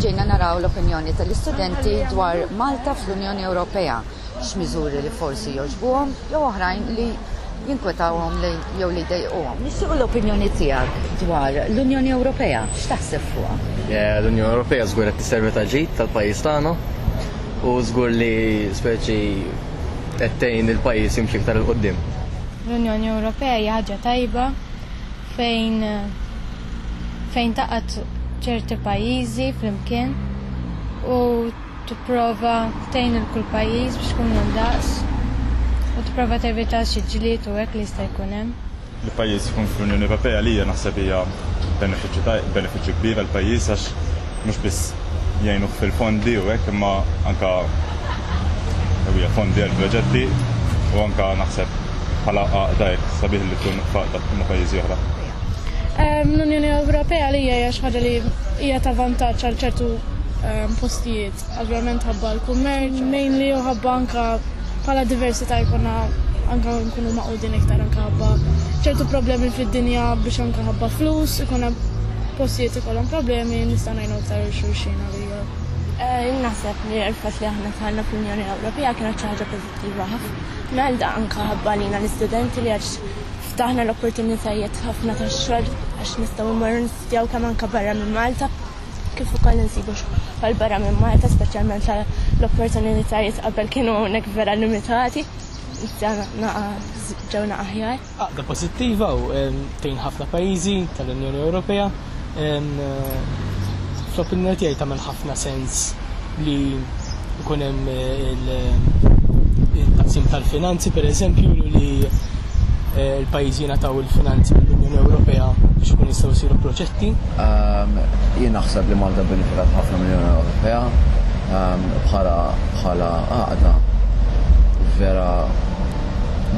ġejna naraw l-opinjoni tal-istudenti dwar Malta fl-Unjoni Ewropea, x'miżuri li forsi joġbuhom jew oħrajn li jinkwetawhom jew li jdejquhom. Nixtiequ l-opinjoni tiegħek dwar l-Unjoni Ewropea, x'taħseb fuqha? Eh, L-Unjoni Ewropea żgur qed tisservi ta' ġid tal-pajjiż tagħna u żgur li speċi qed tgħin il-pajjiż jimxi iktar il-qudiem. L-Unjoni Ewropea hija ħaġa tajba fejn fejn taqgħad ċerti pajjiżi flimkien u tipprova tgħin lil kull pajjiż biex ikunu ndaqs u tipprova tevita xi ġlied u hekk li jista' jkun hemm. Li pajjiż ikun fl-Unjoni Ewropea għalija naħseb hija benefiċċju benefiċċju kbir għall-pajjiż għax mhux biss jgħinuh fil-fondi u hekk imma anke ewwieħ fondi għal proġetti u anke naħseb bħala għaqda hekk sabiħ li tkun f'għaqda ma' pajjiżi oħra. Ehm, L-Unjoni Ewropea li hija xi ħaġa li hija ta' vantaġġ għal ċertu ehm, postijiet, ovvjament ħabba l-kummerċ, mainly u ħabba anke bħala diversità jkollna anke nkunu maqudin iktar anke ħabba ċertu problemi fid-dinja biex anke ħabba flus, ikun hemm postijiet ikollhom problemi nista' Eh, naħseb li l-fatt li aħna tħallna fl-Unjoni Ewropea kienet xi ħaġa pożittiva ħafna. Melda anke ħabbalina l-istudenti li għax ftaħna l-opportunitajiet ħafna tax-xogħol għax nistgħu mmorru nistudjaw kemm anke barra minn Malta kif ukoll insibu xogħol barra minn Malta speċjalment l-opportunitajiet qabel kienu hawnhekk vera limitati. Ġewna aħjar. Għaqda pożittiva u tgħin ħafna pajjiżi tal-Unjoni Ewropea. Fl-opinjoni tiegħi tagħmel ħafna sens li jkun hemm il-taqsim tal-finanzi pereżempju li eh, l-pajjiżi jingħataw il-finanzi mill-Unjoni Ewropea biex ikun jistgħu jsiru proġetti. Jien naħseb li Malta benefikat ħafna mill-Unjoni Ewropea bħala bħala għaqda vera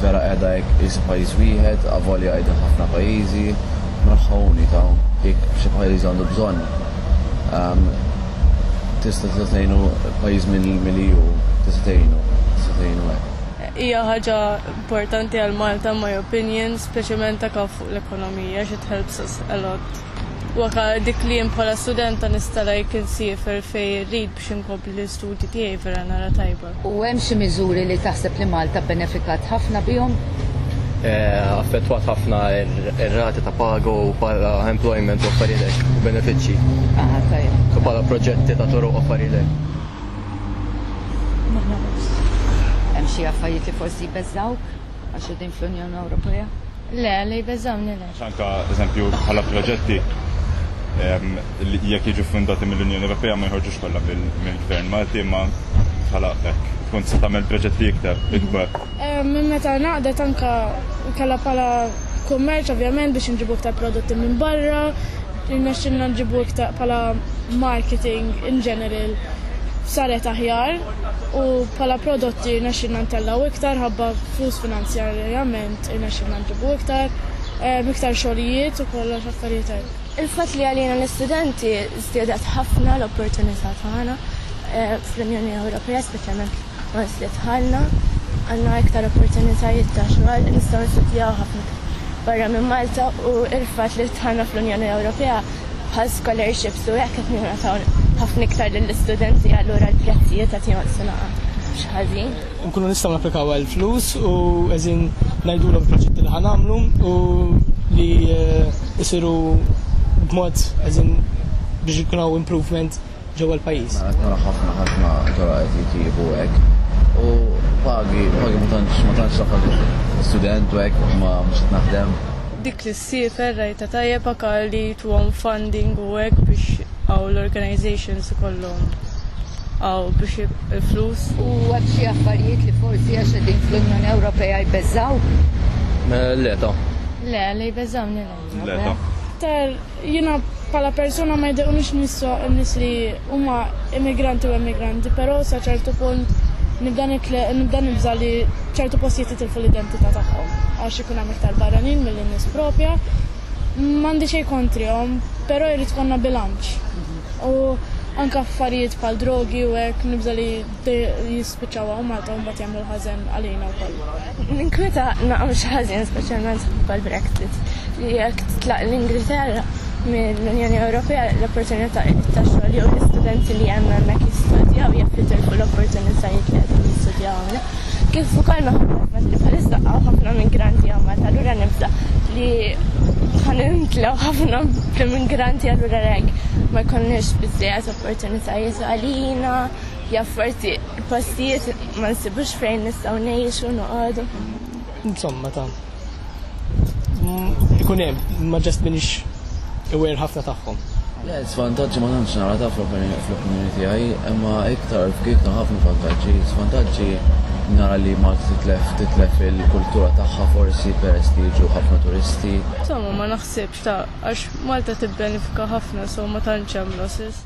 Vera qiegħda hekk qisha pajjiż wieħed, avolja qegħdin ħafna pajjiżi, mraħħa unika. Jekk xi pajjiż għandu bżonn, ehm, tista' tista' tgħinu pajjiż milli hu, tista' tgħinu, tista' tgħinu hekk. Hija ħaġa importanti għal Malta my opinion, speċjalment ta' kaf fuq l-ekonomija, it helps us a lot. Waka dik li jien bħala studenta nista' like insiefer fejn irrid biex inkompli l-istudji tiegħi vera nara tajba. U hemm xi miżuri li taħseb li Malta bbenefikat ħafna bihom? affettwat ħafna ir-rati ta' pago u bħala employment u affarilek u benefiċċji. Aha, tajja. U bħala proġetti ta' toroq affarilek. Hemm xi affarijiet li forsi jbeżżawk? Għax din fl-Unjoni Ewropea? Le, li jbeżawni le. Xanka, eżempju, bħala proġetti ehm, li jekk jiġu fundati mill-Unjoni Ewropea ma jħorġux kollha mill-Gvern Malti ma bħala hekk tkun se tagħmel proġetti iktar ikbar. Ehm, minn meta naqdet anka kellha bħala kummerċ ovvjament biex nġibu iktar prodotti minn barra, nexxinna nġibu iktar bħala marketing in general saret aħjar. u bħala prodotti rnexxilna ntellgħu iktar ħabba flus finanzjarjament irnexxilna nġibu iktar, eh, iktar xogħlijiet u kollox affarijiet hekk. Il-fatt li għalina l-istudenti żdiedet ħafna l-opportunità tagħna eh, fl-Unjoni Ewropea, speċjalment once li dħalna, għandna iktar opportunitajiet ta' xogħol, nistgħu nistudjaw ħafna barra minn Malta u il-fatt li dħalna fl-Unjoni Ewropea bħal scholarships u hekk qed ningħataw ħafna iktar lill-istudenti allura l-prezzijiet qed jonqsu mhux ħażin. Nkunu nistgħu napplikaw għal flus u qegħdin ngħidulhom proġetti li ħanamlu u li jsiru eh, b'mod qegħdin biex ikun hawn improvement ġewwa l-pajjiż. Mela, qed nara ħafna ħafna tora qed jitjiebu hekk. U pagi, pagi ma tantx ma tantx student u hekk ma mhux qed naħdem. Dik li Siefer rajta tajjeb akar li tuhom funding u hekk biex għaw l-organizations ikollhom għaw biex il-flus. U għad xi affarijiet li forsi għax qegħdin fl-Unjoni Ewropea jbeżżaw? Le ta. Le, li jbeżżawni le. Le ta. Tar jiena bħala persuna ma jdequnix nisso n-nies li Huma immigranti u emigranti, però sa ċertu punt nibda nibda nibża' li ċertu postijiet jitilfu l-identità tagħhom għax ikun hemm iktar barranin milli nies propja. M'għandi xejn kontrihom, però jrid ikollna bilanċ. U anke affarijiet bħal drogi u hekk nibża' li jispiċċaw hawn Malta u mbagħad jagħmlu l-ħażen għalina wkoll. Ninkweta naqam xi ħażin speċjalment bħal Brexit li jekk titlaq l-Ingilterra mill-Unjoni Ewropea l-opportunità ta' xogħol jew l-istudenti li hemm hemmhekk jistudjaw jekk jitilfu l-opportunitajiet li qegħdin jistudjaw hawnhekk. Kif ukoll minħabba l-fatt li bħalissa qaw ħafna migranti hawn Malta allura nibża' li ħanintlew ħafna bl-immigranti allura hekk ma jkollniex biżżejjed opportunitajiet għalina ja forsi Il-postijiet ma nsibux fejn nistgħu ngħixu noqogħdu. Insomma ta' ikun hemm ma ġast minix iwer ħafna tagħhom. Le, svantaġġi ma tantx nara ta' fl-opinjoni tiegħi, imma iktar f'gig ta' ħafna vantaġġi. Svantaġġi nara li Malta titlef titlef il-kultura tagħha forsi peress li jiġu ħafna turisti. Insomma ma naħsibx ta' għax Malta tibbenefika ħafna so ma tantx hemm losses.